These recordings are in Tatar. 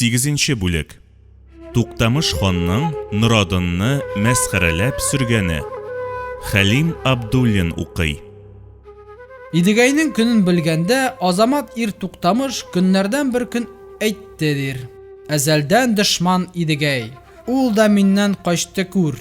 Сигезенче бүлек. Туктамыш ханның Норадынны мәсхәрәләп сөргәне. Хәлим Абдуллин укый. Идегәйнең көнен белгәндә, Азамат ир Туктамыш көннәрдән бер көн әйтте, дир. Әзәлдән дошман Идегәй. Ул да миннән качты, күр.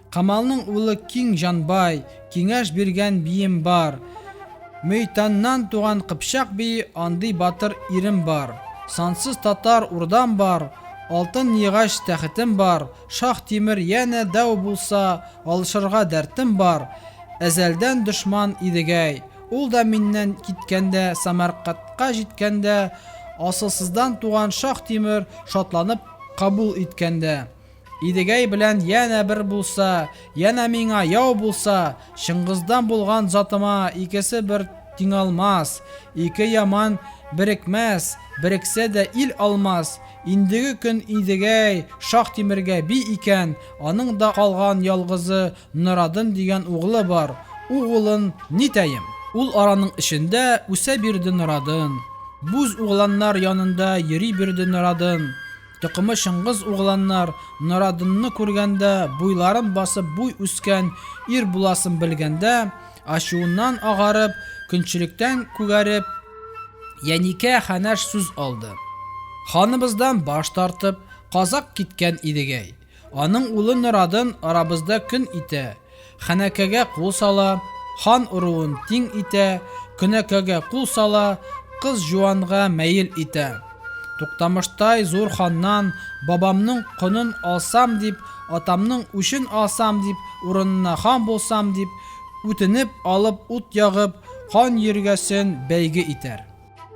Камалның улы Киң Җанбай, Киңәш биргән бием бар. Мөйтаннан туган Кыпчак бии, Андый батыр ирем бар. Сансыз татар урдам бар, Алтын йыгач тәхетем бар. Шаһ Тимер янә дәү булса, Алышырга дәртем бар. Әзәлдән дошман Идегәй. Ул да миннән киткәндә, Самаркатка җиткәндә, Асылсыздан туган Шаһ Тимер Шатланып кабул иткәндә. Идегәй белән янә бер булса, янә миңа яу булса, Чыңгыздан булган затыма икесе бер тиңалмас, ике яман берекмәс, берексә дә ил алмас. Индеге көн Идегәй шаһ Тимергә би икән, аның да калган ялгызы Норадын дигән углы бар. У гылын нитәем? Ул араның эчендә үсә бирде Норадын, буз угланнар янында йөри бирде Норадын. Токымы Чыңгыз угланнар Норадынны күргәндә, буйларын басып буй үскән ир буласын белгәндә, ачуыннан агарып, көнчелектән күгәреп, Яникә хәнәш сүз алды. Ханыбыздан баш тартып, казак киткән идегәй. Аның улы Норадын арабызда көн итә, Ханәкәгә кул сала, хан оруын тиң итә, Көнәкәгә кул сала, кыз җуанга мәел итә. Туктамыштай зур ханнан бабамның конын алсам дип, атамның үчен алсам дип, урынына хан булсам дип, үтенеп алып ут ягып, кан йөргәсен бәйге итәр.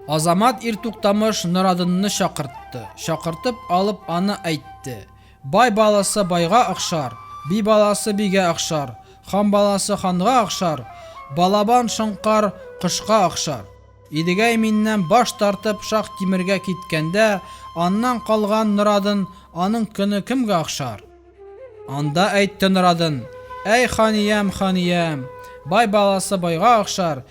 Азамат ир туктамыш Норадынны чакыртты. Чакыртып алып аны әйтте. Бай баласы байга охшар, би баласы бигә охшар, хан баласы ханга охшар, балабан шоңкар кошка охшар. Идегәй миннән баш тартып Шах Тимергә киткәндә, аннан калган Норадын аның көне кемгә охшар? Анда әйтте Норадын, Әй ханиям, ханиям, бай баласы байга охшар,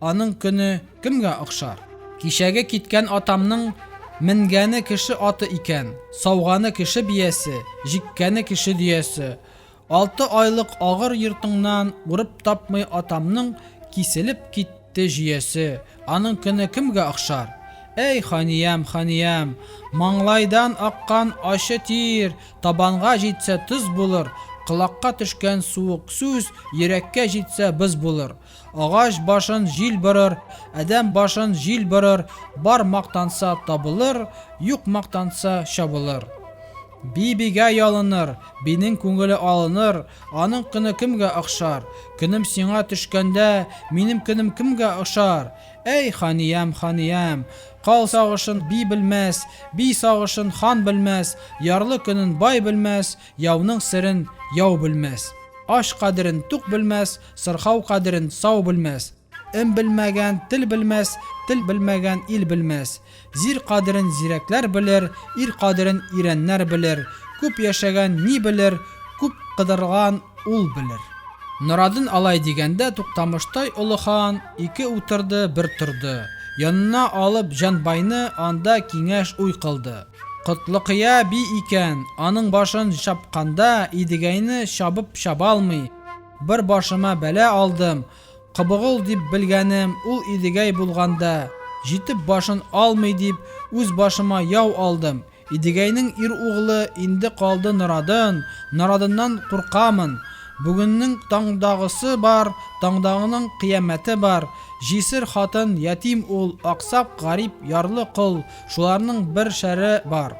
Аның көне кемгә охшар? Кичәге киткән атамның Менгәне кеше аты икән, Сауганы кеше биясе, Җиккәне кеше дөясе. Алты айлык агыр йортыңнан Урып тапмый атамның Киселеп китте җөясе. Аның көне кемгә охшар? Әй, ханиям, ханиям! Маңлайдан аккан ачы тир Табанга җитсә, тоз булыр, Колакка төшкән суык сүз Йөрәккә җитсә, боз булыр. Агач башын җил борыр, адәм башын җил борыр, бар мактанса табылыр, юк мактанса чабылыр. Би бигә ялыныр, бинең күңеле алыныр, аның көне кемгә охшар? Көнем сиңа төшкәндә, минем көнем кемгә ошар? Әй, ханиям, ханиям! Кал сагышын би белмәс, би сагышын хан белмәс, ярлы көнен бай белмәс, яуның серен яу белмәс. Ач кадерен тук белмәс, Сырхау кадерен сау белмәс. М белмәгән тел белмәс, тел белмәгән ил белмәс. Зир кадерен зирәкләр белер, ир кадерен ирәннәр белер. Күп яшәгән ни белер, күп кыдырган ул белер. Норадын алай дигәндә Туктамыштай олы хан ике утырды, бер торды. Янына алып Җанбайны анда киңәш уй кылды. Котлыкыя би икән, аның башын чапканда Идегәйне чабып чабалмый, Бер башыма бәла алдым, Кобогыл дип белгәнем ул Идегәй булганда, җитеп башын алмый дип, үз башыма яу алдым. Идегәйнең ир углы инде калды Норадын, Норадыннан куркамын. Бүгеннең таңдагысы бар, таңдагының кыямәте бар. Җисер хатын, ятим ул, аксак, гарип, ярлы кол, шуларның бер шәре бар.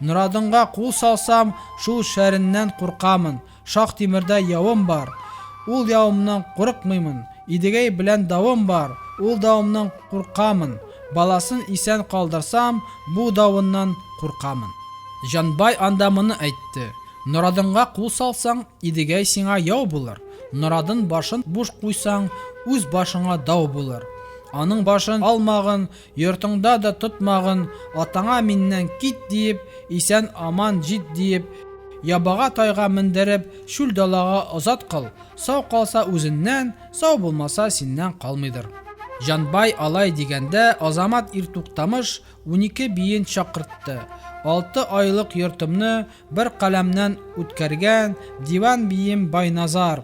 Норадынга кул салсам, шул шәреннән куркамын. Шаһ-Тимердә явым бар, Ул явымнан курыкмыймын, Идегәй белән давым бар, Ул давымнан куркамын, Баласын исән калдырсам, Бу давыннан куркамын. Җанбай анда моны әйтте, Норадынга кул салсаң, Идегәй сиңа яу булыр, Норадын башын буш куйсаң, Үз башыңа дау булыр. Аның башын алмагын. Йортыңда да тотмагын, атаңа миннән кит диеп, исән аман җит диеп, ябага тайга мендереп, чүл далага озат кыл, сау калса үзеннән, сау булмаса синнән калмыйдыр. Җанбай алай дигәндә Азамат ир Туктамыш унике биен чакыртты, алты айлык йортымны бер каләмнән үткәргән диван бием Байназар,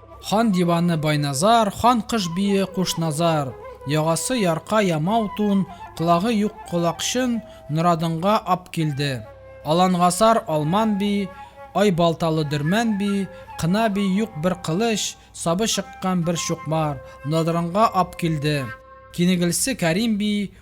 Хан диваны Байназар, хан кыш бие Кушназар. Ягасы ярка ямау тун, колагы юк колакчын Норадынга ап килде. Алангасар Алман би, ай балталы Дөрмән би, кына би юк бер кылыч, сабы чыккан бер чукмар, Нодырынга ап килде. Кинегелсе Кәрим би,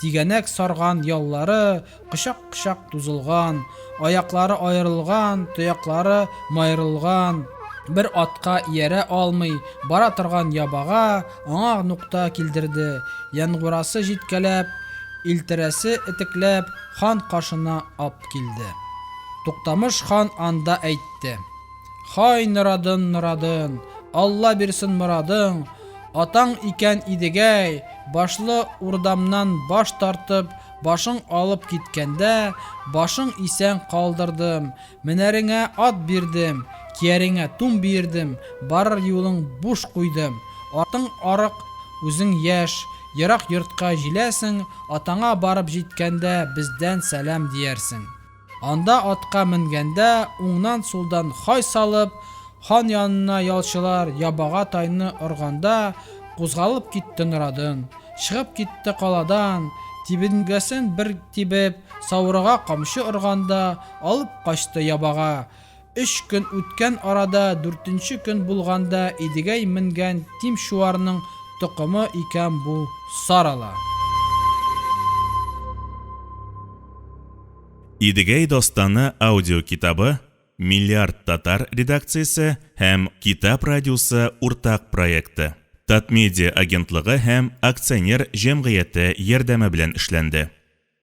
Тигәнәк сарган яллары кочак-кочак тузылган, аяклары аерылган, тояклары майрылган, бер атка иярә алмый бара торган ябага аңа нукта килдерде, янгурасы җиткәләп, илтерәсе этекләп хан кашына ап килде. Туктамыш хан анда әйтте. Һай, норадын, норадын, Алла бирсен морадың, Атаң икән Идегәй, башлы урдамнан баш тартып, башың алып киткәндә, башың исән калдырдым, менәреңә ат бирдем, кияреңә тун биердем, барыр юлың буш куйдым. Атың арык, үзең яшь, ерак йортка җиләсең, атаңа барып җиткәндә бездән сәлам диярсең. Анда атка менгәндә, уңнан-сулдан хай салып, хан янына ялчылар ябага тайны органда, кузгалып китте Норадын. Чыгып китте каладан, тибенгәсен бер тибеп, саурыга камчы органда, алып качты ябага. Өч көн үткән арада дүртенче көн булганда Идегәй менгән Тимчуарның токымы икән бу Сарала. Идегәй дастаны аудиокитабы Миллиард татар редакциясе һәм Китап радиосы уртак проекты, Татмедиа агентлыгы һәм акционер җәмгыяте ярдәме белән эшләнде.